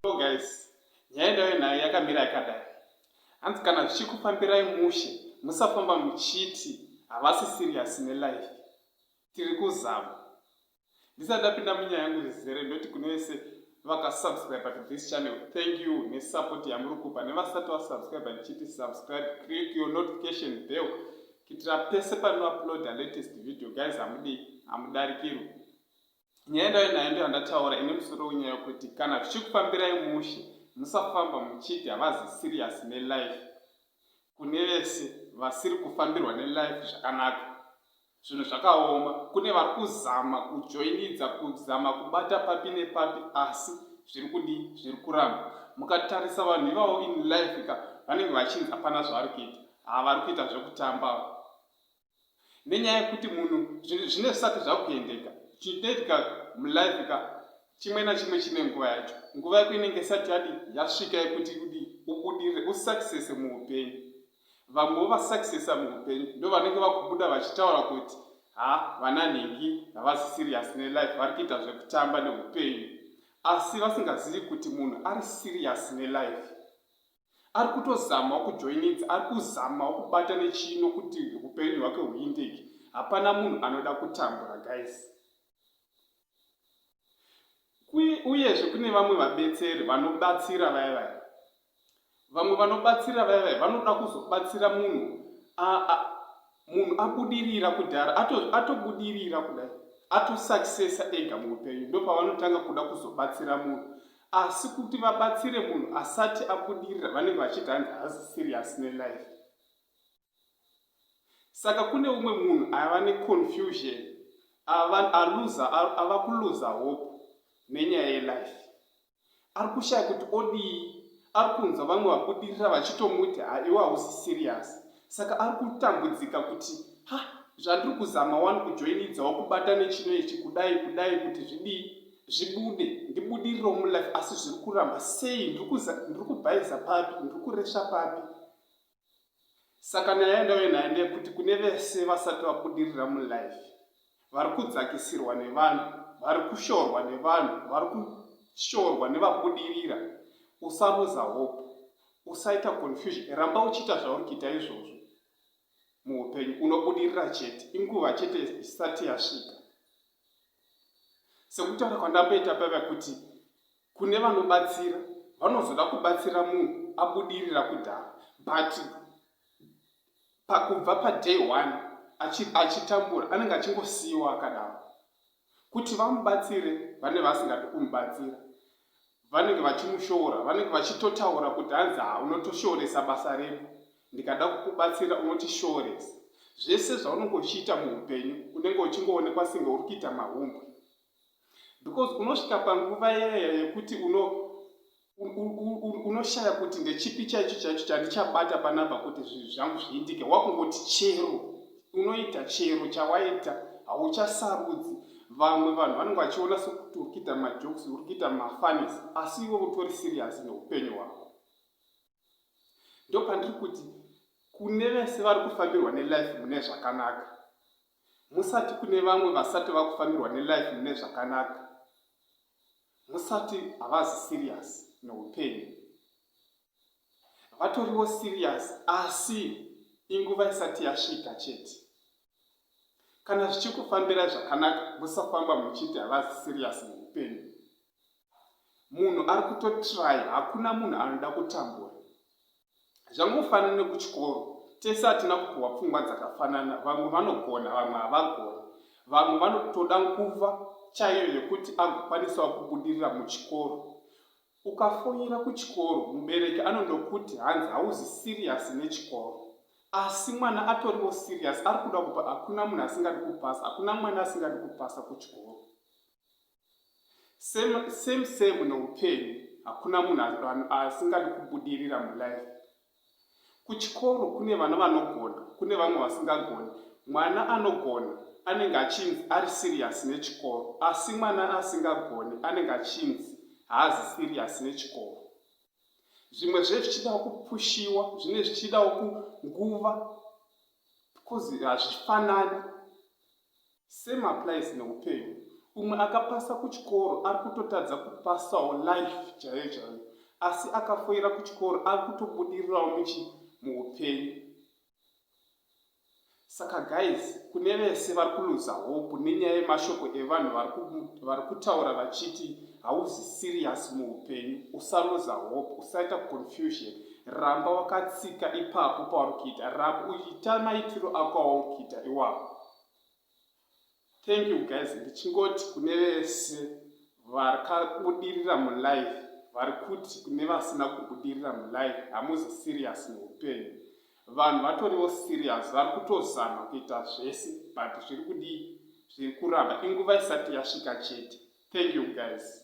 So guys, nyaya ndayo nayo yakamira yakadai. Hanzi kana zvichikufambirai mushe, musafamba muchiti havasi serious nelife. Tiri kuzama. Ndisati ndapinda munyaya yangu zvizere ndoti kune wese vakasubscriber to this channel thank you nesupport yamuri kupa nevasati vasubscriber ndichiti subscribe create your notification bell kuitira pese panouploada latest video guys hamudii hamudarikirwi nyaya ndayo nayo ndiyo andataura ine musoro wenyaya yokuti kana zvichikufambirai mushe musafamba muchiti havazi serious nelife kune vese vasiri kufambirwa nelife zvakanaka Zvinhu zvakaoma kune vari kuzama kujoinidza kuzama kubata papi nepapi asi zviri kudi zviri kuramba mukatarisa vanhu ivavo in life ka vanenge vachinzi hapana zvavari kuita haa vari kuita zvekutamba nenyaya yekuti munhu zvinhu zvine zvisati zvakuendeka chinoitika mulife ka chimwe nachimwe chine nguva yacho nguva yako inenge isati yadi yasvika yekuti kudi ubudirire usuccess muupenyu Vamwe wovasuccessa muhupenyu ndovanenge vakubuda vachitaura kuti haa vana nhingi havazi serious nelife vari kuita zvekutamba nehupenyu asi vasingazivi kuti munhu ari serious nelife ari kutozamawo kujoinidza ari kuzamawo kubata nechino kuti hupenyu hwake huindeke hapana munhu anoda kutambura guys uyezve kune vamwe vabetseri vanobatsira vaya vaya vamwe vanobatsira vaya vaya vanoda kuzobatsira munhu munhu abudirira kudhara atobudirira ato kudai atosuccessa ega muupenyu ndopavanotanga kuda kuzobatsira munhu asi kuti vabatsire munhu asati abudirira vanenge vachiti hanzi hazi serious nelife saka kune umwe munhu ava neconfusion ava kuluza hope nenyaya yelife ari kushaya kuti odii ari kunzwa vamwe vabudirira vachitomuti ha iwe hausi serious saka ari kutambudzika kuti ha zvandiri kuzama wani kujoinidzawo kubata nechino ichi kudai kudai kuti zvidii zvibude ndibudiriro mulife asi zviri kuramba sei ndiri kubhaiza papi ndiri kuresva papi Saka nyaya yandauya nayo ndeyekuti kune vese vasati vabudirira mulife vari kudzakisirwa nevanhu, vari kushorwa nevanhu, vari kushorwa nevabudirira. Usaruza hope, usaita confusion, ramba uchiita zvauri kuita izvozvo. Muupenyu unobudirira chete, inguva chete isati yasvika. Sekutaura kwandamboita paiva kuti Kune vanobatsira vanozoda kubatsira munhu abudirira kudhara but pakubva paday one achitambura anenge achingosiyiwa akadaro kuti vamubatsire vane vasingadi kumubatsira vanenge vachimushoora vanenge vachitotaura kuti hanzi ha unotoshooresa basa redu ndikada kukubatsira unotishooresa zvese zvaunenge uchiita muupenyu unenge uchingoonekwa senge uri kuita mahumbwe because unosvika panguva yaya yekuti uno unoshaya kuti ndechipi chaicho chaicho chandichabata panapa kuti zvinhu zvangu zviitike wakungoti chero unoita chero chawaita hauchasarudzi vamwe vanhu vanenge vachiona sekuti uri kuita majokes uri kuita mafanis asi iwe utori sirius neupenyu hwako ndopandiri kuti kune vese vari kufambirwa nelife mune zvakanaka musati kune vamwe vasati vakufambirwa nelife mune zvakanaka musati havazi serious neupenyu vatoriwo serious asi inguva isati yasvika chete kana zvichikufambira zvakanaka musafamba muchiti havazi serious neupenyu munhu ari kutotry hakuna munhu anoda kutambura zvangofanana nekuchikoro tese hatina kupiwa pfungwa dzakafanana vamwe vanogona vamwe havagoni vamwe vanotoda nguva chaiyo yekuti agokwanisawo kubudirira muchikoro ukafoira kuchikoro mubereki anondokuti hanzi hauzi siriyasi nechikoro asi mwana atoriwo siriyasi ari kuda kupa hakuna munhu asingadi kupasa hakuna mwana asingadi kupasa kuchikoro same same same noupenyu hakuna munhu asingadi kubudirira mulife kuchikoro kune vana vanogona kune vamwe vasingagoni mwana anogona anenge achinzi ari siriyasi nechikoro asi mwana asingagoni anenge achinzi haazi siriyasi nechikoro zvimwe zve zvichidawo kupushiwa zvine zvichidawo kunguva because hazvifanani Same applies neupenyu umwe akapasa kuchikoro ari kutotadza kupasawo life chaiyo chaiyo asi akafoira kuchikoro ari kutobudirirawo muchi muupenyu saka guys kune vese vari kuluza hope nenyaya yemashoko evanhu vari kutaura vachiti hauzi serious muupenyu usaluza hope usaita confusion ramba wakatsika ipapo pauri kuita ramba uchiita maitiro ako auri kuita iwapo thank you guys ndichingoti kune vese vakabudirira mulife vari kuti kune vasina kubudirira mulife hamuzi serious neupenyu vanhu vatoriwo serious vari kutozama kuita zvese but zviri kudii zviri kuramba inguva isati yasvika chete thank you guys